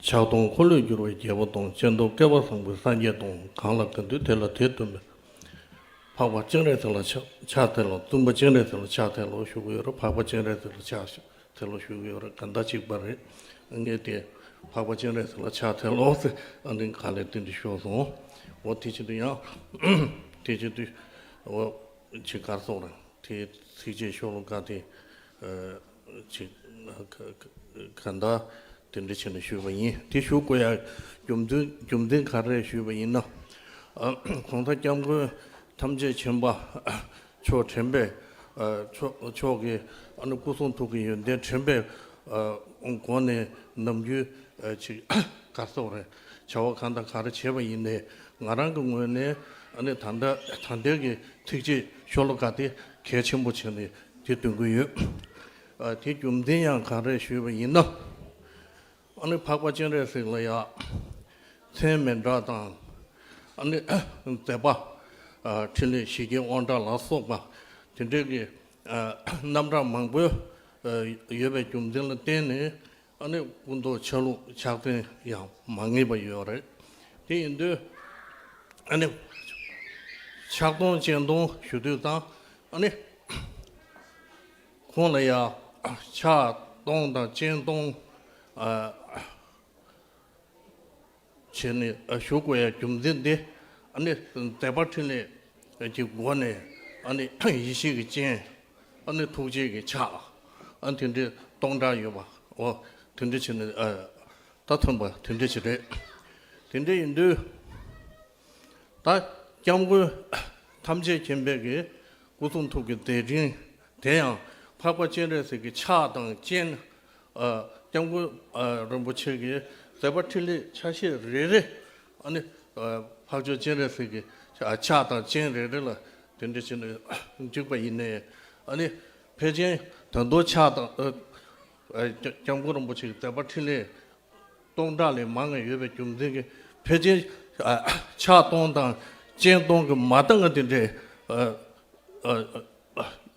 ཕྱག་སྟོང་འཁོར་ལོས་སྒྱུར་བའི་རྒྱལ་པོ་དང་སྤྱན་སྟོང་བསྐལ་པ་བཟང་པོའི་སངས་རྒྱས་དང་གང་ལ་གང་འདུལ་དེ་ལ་དེ་བསྟོད་པའི། འཕགས་པ་སྤྱན་རས་གཟིགས་ལ་ཕྱག་འཚལ་ལོ་བཙུན་པ་སྤྱན་རས་གཟིགས་ལ་ཕྱག་འཚལ་ལོ་ཞུ་གི་ཡོད་རེད་འཕགས་པ་སྤྱན་རས་གཟིགས་ལ་ཕྱག་འཚལ་ལོ་ཞུ་གི་ཡོད་རེད་ག་འདྲ་གཅིག་པ་རེད་ངས་དེ། འཕགས་པ་སྤྱན་རས་གཟིགས་ལ་ཕྱག་འཚལ་ལོ་ཟེར་ཨ་འདི་ག་ལས་དེ་འདྲ་ཤོར་སོང། འོ་དེ་བྱེད་དུ་ཡང། དེ་བྱེད་དུ། འོ། ཇི་གར་སོང་ར་དེ་ཚིགས་བཅད་ཤོ་ལོ་ཀ་དེ། ག་ད་དེ་འདྲ་བྱས་ནས་ཞུས་པ་ཡིན་དེ་ཞུ་དགོས་ཡ་རྒྱུ་མཚན་རྒྱུ་མཚན་ག་རེད་ཞུས་པ་ཡིན་ན། གོང་ས་སྐྱབས་མགོན་ཐམས་ཅད་མཁྱེན་པ་མཆོག་དྲན་པས་མཆོག་གི་སྐུ་གསུང་ཐུགས་ཀྱི་ཡོན་ཏན་དྲན་པའི་སྒོ་ནས་ནམ་རྒྱུན་ཆེད་ཀ་སོགས་རེད་བྱ་བ་གང་དང་ག་རེ་བྱས་པ་ཡིན་ནས་ང་རང་གི་ངོས་ནས་ད་ལྟ་ད་ལྟའི་གི་ཚིགས་བཅད་ཤོ་ལོ་ཀ་དེ་གལ་ཆེན་པོ་བྱས་ནས་དེ་འདོན་གྱི་ཡོད། དེའི་རྒྱུ་མཚན་ཡང་གང་རེད་ཞུས་པ་ཡིན་ན། ཨ་ནི་འཕགས་པ་སྤྱན་རས་གཟིགས་ལ་ཡ། མཚན་མེད་འདྲ་དང། ཨ་ནི་མཛད་པ། ཕྲིན་ལས་ཞི་རྒྱས་དབང་དྲག་ལ་སོགས་པ། དེ་འདྲའི་གི། རྣམ་གྲངས་མང་པོའི། ཡོད་པའི་རྒྱུ་མཚན་ལ་བརྟེན་ནས། ཨ་ནེ་སྐུ་མདོག་ཆ་ལུགས་ཕྱག་མཚན་ཡང་མ་ངེས་པ་ཡོད་རེད། དེ་ཡིན་དུས། ཨ་ནེ། ཕྱག་སྟོང་སྤྱན་སྟོང་ཞུ་དུས་དང། ཨ་ནེ། ཁོང་ལ་ཡང་ཕྱག་སྟོང་དང་སྤྱན་སྟོང། བྱས་ནས་ཞུ་དགོས་ཡ་རྒྱུ་མཚན་དེ་ནི་དད་པ་ཕྲིན་ལས་ཀྱི་སྒོ་ནས་ཡེ་ཤེས་ཀྱི་སྤྱན་ནི་ཐུགས་རྗེ་ཀྱི་ཕྱག་དེ་འདྲའི་སྟོང་ཕྲག་ཡོད་པ་འོ་དེ་འདྲའི་བྱས་ནས་ད་ཐོན་པ་དེ་འདྲའི་བྱས་རེད་དེ་འདྲའི་ཡིན་དུས་ད་སྐྱབས་མགོན་ཐམས་ཅད་མཁྱེན་པའི་གི་སྐུ་གསུང་ཐུགས་ཀྱི་དེ་སྤྲིན་དེ་ཡང་འཕགས་པ་སྤྱན་རས་གཟིགས་ཀྱི་ཕྱག་དང་སྤྱན། སྐྱབས་མགོན་རིན་པོ་ཆེ་གི་མཛད་པ་ཕྲིན་ལས་ཆ་ཤས་རེ་རེ་ནི་འཕགས་མཆོག་སྤྱན་རས་གཟིགས་ཀྱི་ཕྱག་དང་སྤྱན་རེ་རེ་ལ་དེ་འདྲ་བྱས་ནས་འཇུག་པ་ཡིན། ནི་ཕལ་ཆེན་དོན་མདོ་ཕྱག་དང་སྐྱབས་མགོན་རིན་པོ་ཆེ་གི་མཛད་པ་ཕྲིན་ལས་སྟོང་ཕྲག་ལས་མང་ཡོད་པའི་རྒྱུ་མཚན་གྱིས་ཕལ་ཆེན་ཕྱག་སྟོང་དང་སྤྱན་སྟོང་གི་མ་ལྟ་ང་དེ་འདྲའི་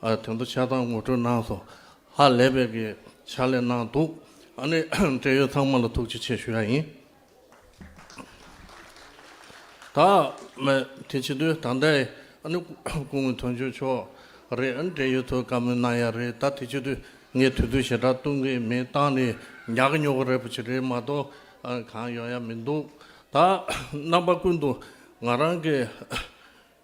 དོན་དུ་ཕྱག་དང་ངོ་སྤྲོད་གནང་སོང། ཧ་ལས་པའི་གི་ཕྱག་ལས་གནང་འདུག། ཨ་ནི་འབྲེལ་ཡོད་ཚང་མ་ལ་ཐུགས་རྗེ་ཆེ་ཞུ་ཡ་ཡིན། ད་མི་དེ་ཕྱི་དུས་ད་ལྟའི་ཨ་ནི་སྐུ་ངོས་དོན་གཅོད་ཕྱོགས་རེད་ཨ་ནི་འབྲེལ་ཡོད་ཚོས་བཀའ་མོལ་གནང་ཡ་རེད་ད་དེ་ཕྱི་དུས་ངས་དུས་ཚོད་ཞེ་དྲག་གཏོང་གི་མེད་སྟངས་ནི་ཉག་གི་ཉོག་གི་རེད་པོ་ཆེ་རེད་མ་གཏོགས་གང་ཡོང་ཡ་མི་འདུག་ད་རྣམ་པ་ཀུན་ཏུ་ང་རང་གི།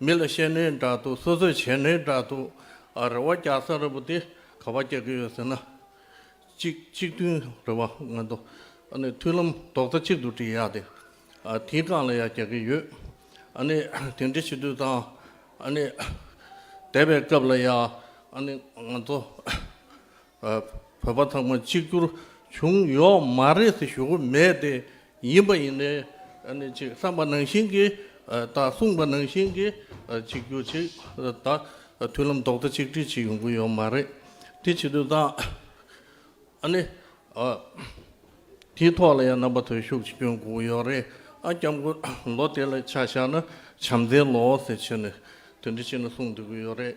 མི་ལ་བཤད་ནི་འདྲ་འདུག་སོ་སོས་བྱས་ནི་འདྲ་འདུག་ཨ་རེ་བ་རྒྱ་བཟའ་ར་བུ་དེ་ག་བ་རྒྱག་གི་ཡོད་ཟེར་ན། གཅིག་གཅིག་མཐུན་རེ་བ་ང་འདུག་ཨ་ནི་མཐུན་ལམ་རྡོག་རྩ་གཅིག་ཏུ་སྒྲིལ་ཡག་སྟེ། ཨ་དེའི་སྒང་ལ་ཡ་རྒྱག་གི་ཡོད་ཨ་ནི་དེ་འདྲི་བྱེད་དུས་དང་ཨ་ནི་དད་པའི་སྐབས་ལ་ཡ་ཨ་ནི་ང་ཚོ། བོད་པ་ཚང་མ་གཅིག་གྱུར་བྱུང་ཡོག་མ་རེད་ཟེར་ཞུ་གི་མེད་དེ། ཡིན་པ་ཡིན་ནའི་ཅིག་བསམ་པ་ནང་བཞིན་གྱི་དང་གསུངས་པ་ནང་བཞིན་གྱི་གཅིག་གྱུར་ཅིག་དང་མཐུན་ལམ་ལྡོག་ཏེ་གཅིག་སྒྲིལ་ཅིག་ཡོང་གི་ཡོག་མ་རེད། དེ་བྱེད་དུས་དང། ཨཱ་ནི། དེའི་ཐོག་ལ་ཡང་རྣམ་པ་ཐོལ་ཤུགས་ཅིག་སྐྱོན་དགོས་གི་ཡོག་རེད། ཨ་སྐྱབས་མགོན་ལོ་དེ་ལ་ཆ་བཞག་ན་བྱམས་བརྩེའི་ལོ་ཟེར་ཕྱིར་ནས་དོན་འདི་ཕྱི་ནས་གསུངས་འདོད་གི་ཡོག་རེད།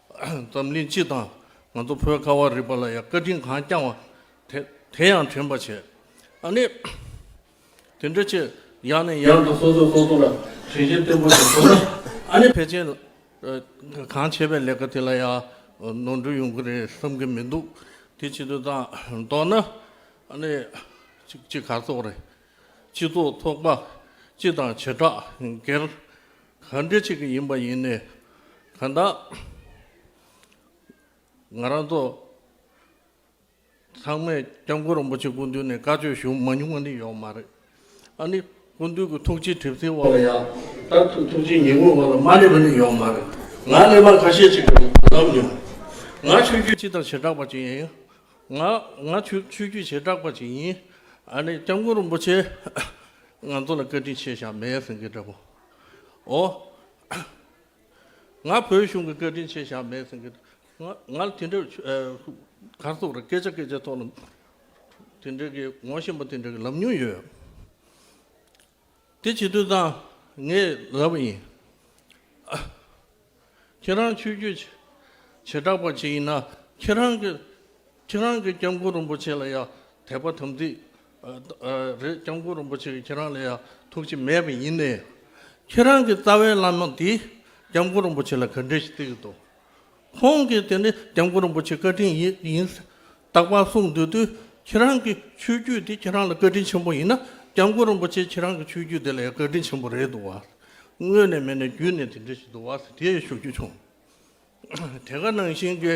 འཛམ་གླིང་སྤྱི་དང་ང་ཚོ་བོད་ཁ་བ་རི་པ་ལ་ཡང་བཀའ་དྲིན་གང་བསྐྱངས་བ་དེ་དེ་ཡང་དྲན་པར་བྱས། ཨ་ནི། དེ་འདྲ་ཆེ་ཡང་ནས་ཡང་དུ་སོ་སོས་སོ་སོ་ལ་དྲིན་ཆེན་བརྟན་པོ་ཞིག་ཐོབ་ན་ཨ་ནི། ཕལ་ཆེར་གང་བྱས་པའི་ལས་ཀ་དེ་ལ་ཡང་ནོར་འཁྲུལ་ཡོང་གི་རེད་བསམ་གི་མི་འདུག་དེ་བྱེད་དུས་དང་ཐོག་ན་ཨ་ནི། གཅིག་གཅིག་ག་ཚོགས་རེད། སྤྱི་ཚོགས་ཚོགས་པ་སྤྱི་དང་བྱེ་བྲག་སྒེར། ག་འདྲི་ཅིག་ཡིན་པ་ཡིན་ནས་ག་ད་ང་རང་ཚོ་ཚང་མས་སྐྱབས་མགོན་རིན་པོ་ཆེ་སྐུ་མདུན་ནས་བཀའ་ཆོས་ཞུ་མ་མྱོང་བ་ནི་ཡོག་མ་རེད། ཨ་ནི་སྐུ་མདུན་གྱི་ཐུགས་རྗེ་གྲིབ་སེལ་འོག་ལ་ཡང་དར་ཐུག་ཐུགས་རྗེ་ཉིན་མོའི་འོག་ལ་མ་སླེབས་པ་ནི་ཡོག་མ་རེད། ང་གླེན་པ་ཁ་ཤས་ཅིག་ལབ་མྱོང། ང་ཆོས་བརྒྱུད་སྤྱི་དང་བྱེ་བྲག་པ་ཅིག་ཡིན། ང་ང་ཆོས་བརྒྱུད་བྱེ་བྲག་པ་ཅིག་ཡིན། ཨ་ནི་སྐྱབས་མགོན་རིན་པོ་ཆེས་ང་ཚོ་ལ་བཀའ་དྲིན་ཆེ་ཞག་མེད་ཟེར་གི་འདྲ་པོ། ཨོ། ང་བོད་གཞུང་གི་བཀའ་དྲིན་ཆེ་བཞག་མེད་ཟེར་གི་འདུག་ང་ལ་དེ་འདྲའི་གར་སོགས་ར་སྐད་ཆ་སྐད་ཆ་ཐོག་ལ་དེ་འདྲའི་གི་ངོ་ཤེས་པ་དེ་འདྲའི་གི་ལབ་མྱོང་ཡོད། དེ་བྱེད་དུས་ད་ངས་ལབ་ཡིན། ཁྱེད་རང་ཆོས་རྒྱུད་བྱེ་བྲག་པ་ཞིག་ཡིན་ན་ཁྱེད་རང་གི་ཁྱེད་རང་གི་སྐྱབས་མགོན་རིན་པོ་ཆེ་ལ་ཡང་དད་པ་དམ་ཚིག་རེད་སྐྱབས་མགོན་རིན་པོ་ཆེ་གིས་ཁྱེད་རང་ལ་ཡང་ཐུགས་རྗེ་མེད་པ་ཡིན་ནའི་ཁྱེད་རང་གི་རྩ་བའི་བླ་མ་དེས་སྐྱབས་མགོན་རིན་པོ་ཆེ་ལ་ག་འདྲས་ཤིག་བརྩི་གི་འདུག་ཁོང་གིས་དེ་ནི་སྐྱབས་མགོན་རིན་པོ་ཆེ་བཀའ་དྲིན་ཡིན། རྟག་པར་གསུངས་འདོད་དུས་ཁྱེད་རང་གི་ཆོས་བརྒྱུད་འདི་ཁྱེད་རང་ལ་བཀའ་དྲིན་ཆེན་པོ་ཡིན་ན་སྐྱབས་མགོན་རིན་པོ་ཆེ་ཁྱེད་རང་གི་ཆོས་བརྒྱུད་འདི་ལ་ཡང་བཀའ་དྲིན་ཆེན་པོ་རེད་འདུག་བ། དངོས་ནས་མེད་ནས་བརྒྱུད་ནས་དེ་འདྲ་ཞིག་འདུག་བ་དེ་ཡང་ཞུ་རྒྱུ་བྱུང། དེ་ག་ནང་བཞིན་གྱི།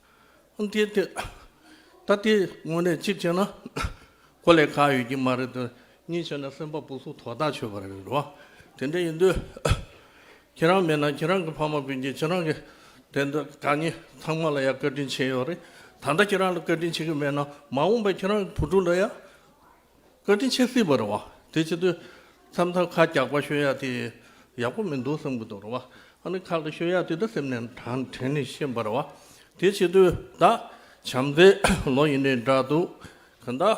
ཏེ། ད་དེ་དངོས་གནས་གཅིག་བྱས་ན་གོ་ལས་ཁག་ཡོད་ཀྱི་མ་རེད་དོ། གཉིས་བྱས་ན་སེམས་པ་སྤུ་གསུམ་དོག་ཐག་ཆོད་པ་རེད་རེད་བ། དེ་འདྲ་ཡིན་དུས་ཁྱེད་རང་མེད་ན་ཁྱེད་རང་གི་ཕ་མ་སྤུན་མཆེད་ཁྱེད་རང་གི་དེ་འདྲ་གང་ཉིད་ཚང་མ་ལ་ཡང་བཀའ་དྲིན་ཆེ་ཡོད་རེད། ད་ལྟ་ཁྱེད་རང་ལ་བཀའ་དྲིན་ཆེ་གི་མེད་ན་མ་འོངས་པའི་ཁྱེད་རང་གི་བུ་ཕྲུག་འདྲ་ཡང་བཀའ་དྲིན་ཆེ་སྲིད་པར་བ། དེ་ཕྱི་དུས་མཚམས་མཚམས་ཁ་རྒྱག་པ་ཤོད་ཡ་དེ་ཡག་པོ་མི་འདུག་བསམ་གི་འདུག་ར་བ། ཨ་ནི་ཁག་ལ་ཤོད་ཡ་དེ་ད་སེམས་ནས་དྲན་དྲན་ནས་ཤེས་པར་བ། དེ་ཕྱི་དུས་ད་བྱམས་བརྩེ་ལོ་ཡིན་ནའི་འདྲ་འདུག་གི་འདའ།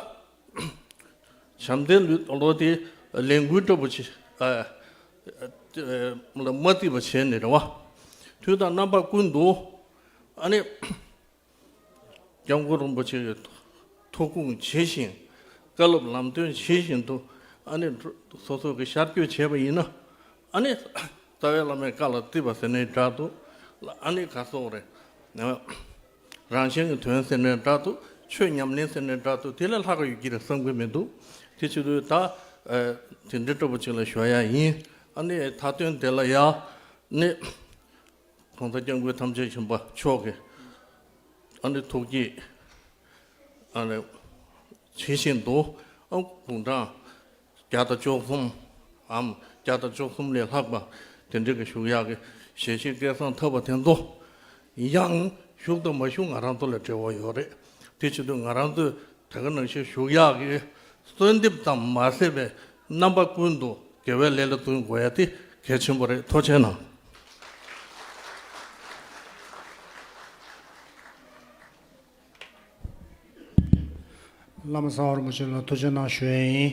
བྱམས་བརྩེ་ལོ་དེ་ལས་འགུལ་ལྟ་བུ་བྱེད་ལ་མ་རྩིས་པ་བྱས་ནས་ར་བ། དུས་དང་རྣམ་པ་ཀུན་འདུག་ཨ་ནི། སྐྱབས་མགོན་རིན་པོ་ཆེ་གི་ཐུགས་དགོངས་ཇི་བཞིན་བཀའ་སློབ་ལམ་སྟོན་ཇི་བཞིན་དུ་ཨ་ནི་སོ་སོ་གི་ཤར་སྐྱོད་བྱས་པ་ཡིན་ན་ཨ་ནི་རྩ་བའི་བླ་མའི་བཀའ་ལ་བརྩི་བ་ཟེར་ནའི་སྒྲ་དུ་ཨ་ནི་ག་སོགས་རེད། རང་གཞན་གྱི་དོན་ཟེར་ནའི་སྒྲ་དུ་ཆོས་ཉམས་ལེན་ཟེར་ནའི་སྒྲ་དུ་དེ་ལས་ལྷག་གི་ཡོད་ཀྱི་རེད་བསམ་གི་མི་འདུག་དེ་ཕྱི་རོལ་ད་དེ་འདྲའི་སྤྲོ་པོ་ཅིག་ལ་ཞོག་ཡ་ཡིན་ཨ་ནི་ད་དོན་དེ་ལ་ཡ་ནི་གང་དག་སྐྱབས་མགོན་ཐམས་ཅད་མཁྱེན་པ་མཆོག་གི། ཨ་ནི་ཐུགས་ཀྱི། ཨ་ནི། ཇི་བཞིན་དུ། ཨཱ། དགུང་གྲངས། བརྒྱ་དང་བཅུ་གསུམ། འམ། བརྒྱ་དང་བཅུ་གསུམ་ལས་ལྷག་པ། དེ་འདྲའི་གི་ཞུགས་ཡག་གི། ཞལ་ཤེས་སྐལ་བཟང་ཐར་བ་དེ་ཚོ། ཡང། ཞུགས་དང་མ་བཞུགས་ང་རང་ཚོ་ལ་འབྲེལ་བ་ཡོད་རེད། དེ་ཕྱིར་དུ་ང་རང་ཚོས། དེ་ག་ནང་བཞིན་ཞུགས་ཡག་གི། གསོལ་འདེབས་ཙམ་མ་ཟད་པའི། རྣམ་པ་ཀུན་ཏུ་དགེ་བའི་ལས་ལ་བསྟུན་དགོས་ཡ་དེ་གལ་ཆེན་པོ་རེད་མཐོ་ཆེན་ནང། བླ་མ་གསང་བར་མོ་ཆེན་ལ་མཐོ་ཆེན་ནང་ཞུ་ཡ་ཡིན།